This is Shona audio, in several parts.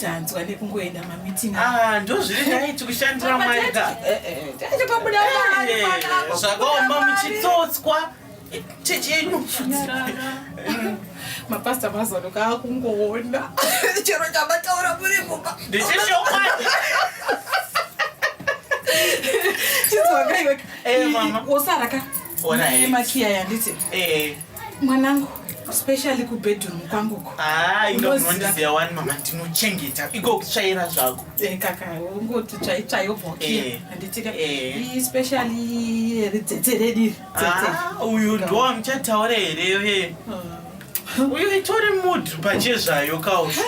tanzwa nekungoenda mameeting ah ndozviri dai tikushandira mwari ka eh, eh, eh, tete pabuda mwana zvakaomba muchitsotswa chechi yenyu mapasta mazano kaakungoona chero chamataura muri mumba ndicheshokwadi chizwakaiwe osaraka makiya yanditi mwanangu especially kubedroom kwangu ko ah, indoziva wani mama ndinochengeta iko kutsvaira zvako eh, kaka ungoti tsvaitsvayo bhokia eh, handiti ka eh. especially ridzetse rediri ah, uyu ndowa muchataura here uye ah. uyu itori mood pachezvayo kausha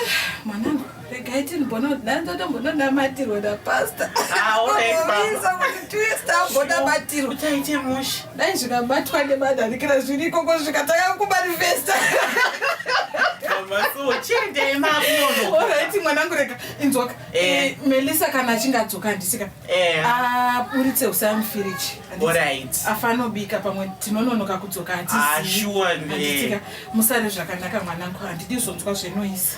mwanangu regai tinibona kuti nhani totombononamatirwa napasta aoisa ah, kuti tiwesta ambonabatirwa taite musha dai zvikabatwa nemanharikira zviri ikoko svika tanga kumanifesta orit mwanangu rega inzwaka eh. eh, melisa kana achinge adzoka handisika eh. aburitse ah, usamfiriji afanobika pamwe tinononoka kudzoka hatiziika ah, musare zvakanaka mwanangu handidi zvonzwa zvenoisa